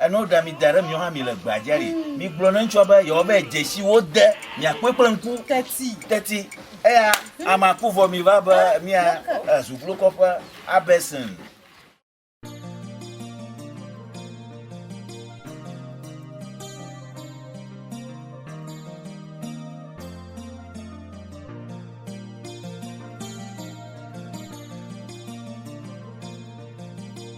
Eno ɖa mi da ɖe miwo hã mi le gbea dzi aɖi. Mm. Mi gblɔ ne ŋutsua be yewo be dzesi wo de miakpɔe kple ŋku. Teti. Teti. Eya ama ku vɔ mi va be mia eh, zuglokɔƒe abɛsin.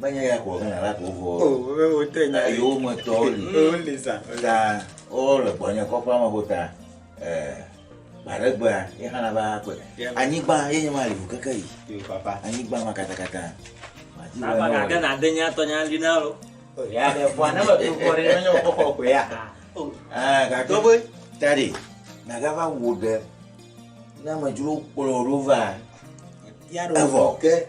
Menye ya ko Ghana la ko vɔ. O be wo te nya. Eye wo me tɔ li. Wo li za. Ta o le gbɔ nye kɔƒe ame ko ta. Eh. Bare gbe a ye hana ba ko. Anyi gba ye nye ma li ko keke yi. Yo papa. Anyi gba ma kata kata. Ma ti wo. Papa ka Ghana de nya tɔ nya li na lo. O ya de fwa na ma tu fwa re menye o kɔkɔ ko ya. O. Ah ka to be. Tadi. Na ga va wo de. Na ma juro kpolo rova. Evo. Ke.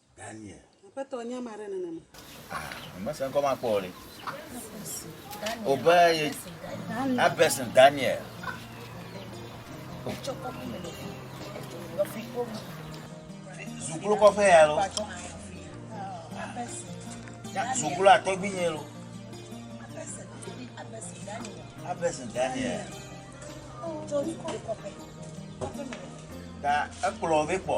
Daniel. Aƒetɔ nye ama ɖe nenema. Mese ŋkɔ ma kpɔ le. Obe ye Abesen Daniel. Zuklo kɔfɛ ya lo. Zuklo atɔgbi nye lo. Abesen Daniel. Ta ekplɔ be kpɔ.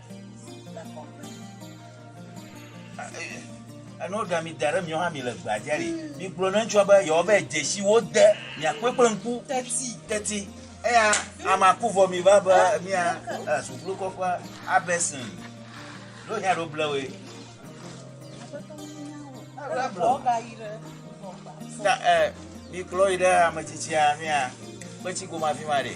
Eno ɖa mi da ɖe mi hã mi le gbea dzia li. Mi gblɔ ne ŋutsua be yewo be dzesi wo de mi akpɔe kple ŋku. Teti. Teti. Eya ama ku vɔ mi va be mi a sukulu kɔkɔ abɛsin. Ɖo nya ɖo ble we. Ebe ble. Ta ɛ mi kplɔ yi ɖe ametsitsia mi a kpetsi goma fi ma ɖe.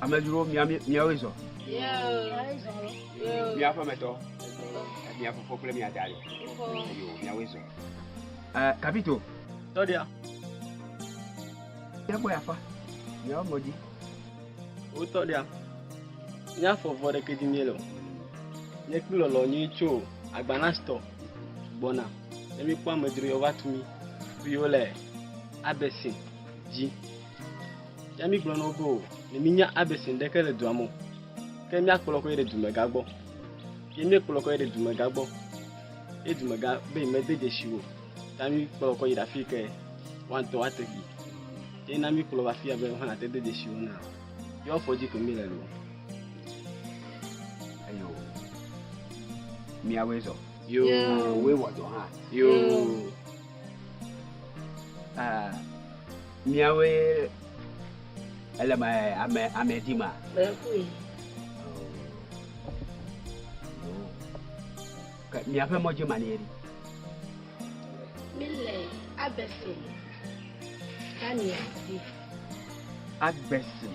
amedzro miawoe zɔ mia ƒemetɔ mia fofo kple mia da yo miawoe zɔ kapito tɔɖia miagbɔ yafa miawo mɔdzi wotɔ ɖia míafɔ vɔ ɖeke dzi míele o míekpli lɔlɔ nyui tso agbanastɔ gbɔna Ne míekpɔ amedzro ya wova tu mí viwo le Abɛsin dzi. Ya mígblɔ na wo be o, ne mínya Abɛsin ɖeke le dua me o, ke míakplɔ kɔ yi ɖe dumegã gbɔ. Ye míekplɔ kɔ yi ɖe dumegã gbɔ. Ye dumegã be yemede dzesi o. Ta míekplɔ kɔ yi ɖe afi yi ke woatɔ woate yi. Ye na míekplɔ va afi ya be wohã nate de dzesi wo na. Ye woafɔ dzi ke míele loo. Eyo, míawoe zɔ. Yoo, woe wɔ dɔ hã. Yoo. Ah, miawoe ele ma ame ame di ma. Mekui. Ke miaƒe mɔdzi ma nie ɖi. Mile Abɛsin, Tania di. Abɛsin.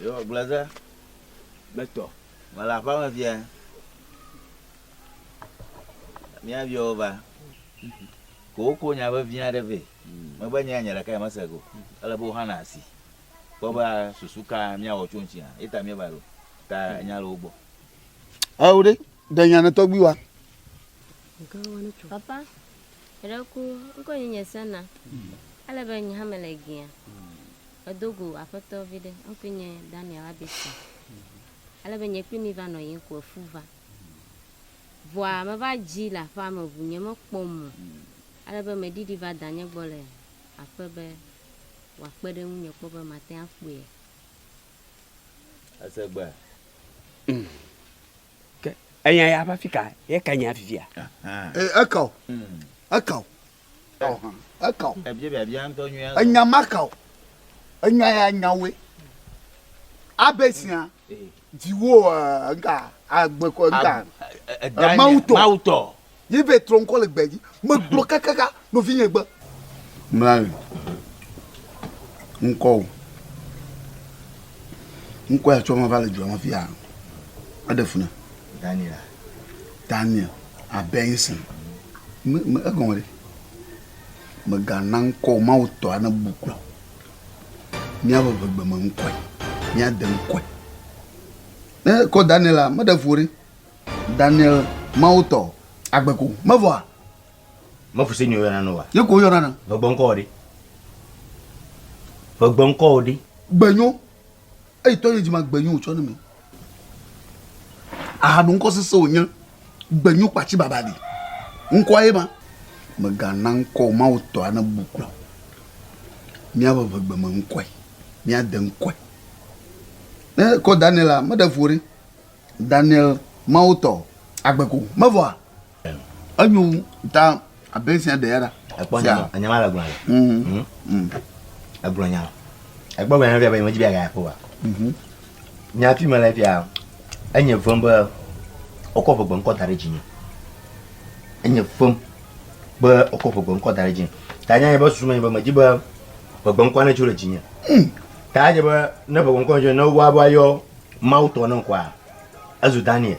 Yehowa gblɔe ɖe gbetɔ, mele aƒeme fia. Míayɔ wo va. Ko woko nya vevi aɖe vɛ. Mebe nye nya ɖekae mese go. Ele be woxana asi. Kpɔ be susu ka míawɔ tso ŋuti hã. Eta míeva ɖo. Ta nya le wo gbɔ. Ao ɖe, ɖe nya ne tɔgbi wa. Papa, eɖe ku, ŋkɔ nye nye sena. Ele be nye hã mele gea. Edo go aƒetɔ viɖe. Ŋkɔe nye Daniel Abison. Ale be nye kple mi va nɔ yiyim ko efu va. Vɔa meva dzi le aƒea me ŋu nye mekpɔ mɔ ale be meɖiɖi va danye gbɔ le aƒe be wòakpe ɖe ŋunye kpɔ be mate ŋu akpɔea. Ese gbe. Mm. Ke enya ya ƒe afika ye ke nya fifia. Eka o. Eka o. Eka o. Enya maka o. Enya ya nya woe. Abe sia dziwo ŋka agbe kɔ ŋka. Mawu tɔ. Mawu tɔ. Ye be trɔ ŋkɔ le gbedzi. Megblɔ kakaka nɔvinye gbe. Mlae. Ŋkɔ o. Ŋkɔ ya tsɔ ma va le dua me fiya. Eɖe funa. Daniel. Daniel Abenson, me, me, egɔme ɖe. Mègana ŋkɔ Mawu tɔa nebu kplɔ. Míaƒe vegbeme ŋkɔe. Míade ŋkɔe. Ne kɔ Daniela, meɖe vo ɖe. Daniel Mawu tɔ agbe ko. Mevɔa? Mefu se nyɔ yɔna nɔa? Ye ko yɔna na. Vegbɔnkɔ ɖe. Vegbɔnkɔ ɖe. Gbenyo. eyi tɔ ye dzima gbenyu wòtsɔ ne mi ahanu ŋkɔ sese wònye gbenyu kpatsi baba li ŋkɔa ye ma megana ŋkɔ mawu tɔ ane bu kplɔ míaƒe ʋegbe me ŋkɔe míade ŋkɔe ne kɔ daniel la meɖe vo ɖe daniel mawu tɔ agbeko mevɔa Enyo ŋu ta abe esi aɖe ya ɖa. Ekpɔ nya ma, enya ma le gblɔ ya. Mhm. Mhm. Mhm. Egblɔ nya. Ekpɔ gblɔ nya fia be nyemedzi be aga ya kpɔ wa. Mhm. Nya fi me le fia enye vem be wokɔ ʋegbe ŋkɔ da ɖe dzi nye. Enye vem be wokɔ ʋegbe ŋkɔ da ɖe dzi. Ta nya nye be susu me nye be medzi be ʋegbe ŋkɔ ne tso le dzi nye. Mhm. Ta nye be ne ʋegbe ŋkɔ tso ne wa be ayɔ Mawu tɔ ne ŋkɔa ezu Daniel.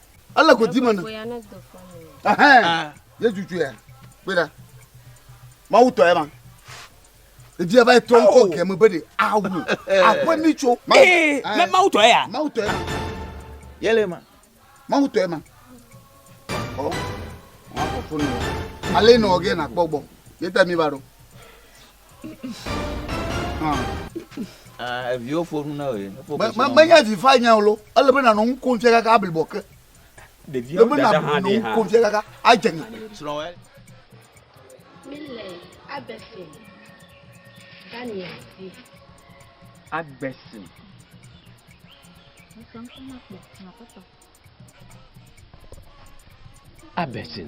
Ele godi me ne. Ɛhɛn. Yesu tsoe ya. Kpe ɖa. Mawu tɔ ya ma. Edi ya va yi tɔ ŋkɔ gɛme be de awu. Aƒe mi tso. Ee, mɛ Mawu tɔ ya. Mawu tɔ ya ma. Yele ma. Mawu tɔ ya ma. Ɔ. Ɔ afɔ fonu. Ale nɔ gɛ na kpɔ gbɔ. Yeta mi va ɖo. Ah, eviwo fo nu na wòye. Menye vi fa nya o lo, ele be nanɔ nu kom fia kaka ablibɔ ke. Ɖeviawo ɖe ɖe hã ɖe ha. Kom fia kaka adze ŋa. Srɔ̃wɛ. Mi le abesi Daniel di. Agbesi. Abesi.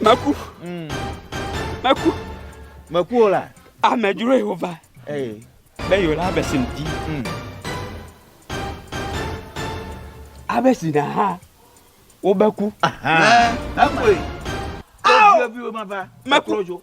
Meku. Mm. Meku. Meku o la. Amedzroe wova. Ee. Be yewo la abesi ŋdi. Mm. Abesi na ha wobeku. Mekue. Awo. Meku.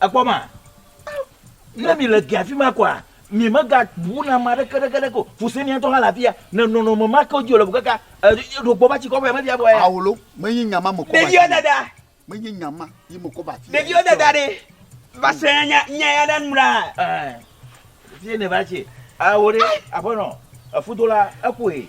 Èkpɔ ma? Ne mi le gea fima koa, mi me ga bu na ma ɖeke ɖeke ɖeke o. Fuse nia tɔ ha la fia, ne nɔnɔ me ma ke dzi le bu kaka, e ɖo kpɔ ba tsi kɔ bɛ me fia bɔ ya. Awolo, me yi nya ma me kɔ ba tsi. Ɖevio dada. Me yi nya ma yi me kɔ ba tsi. Ɖevio dada ɖe, va se nya nya ya ɖe nura. Eh, fie ne va tsi. Awo ɖe, aƒenɔ, efudola, eƒoe.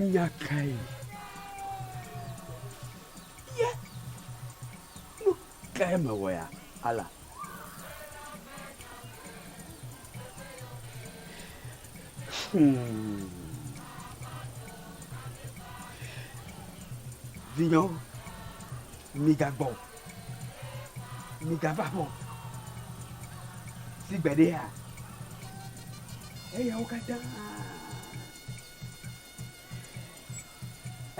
Nya kae? Ye nu kae mewɔ ya, Allah? Hmm. Vinyewo, migagbɔ o. Migava aƒe o. Si gbeɖea, eyawo katã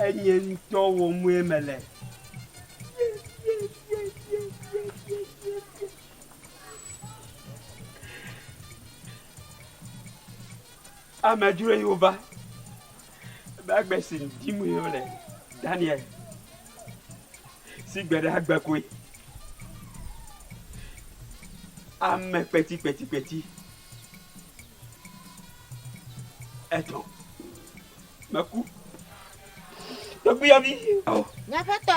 enye ŋutɔ wɔmee mele. Amedzroe wova. Ebe agbe si dim wole Daniel si gbe ɖe agbe koe. Ame kpetikpetikpeti etɔ̃ meku tɔgbuiyɔvi. Nye aƒetɔ.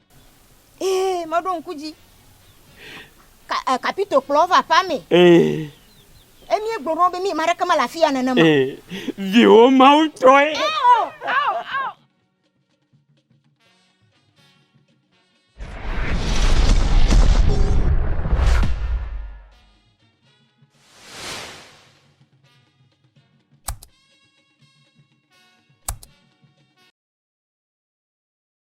Ee, meɖo ŋku dzi. Ka, eh, kapito kplɔ va aƒea me. Ee. Emie gblɔ ɖo be mi ma ɖeke mele afi ya nene ma. Ee, viwo mawu tɔe. Ao, ao, ao.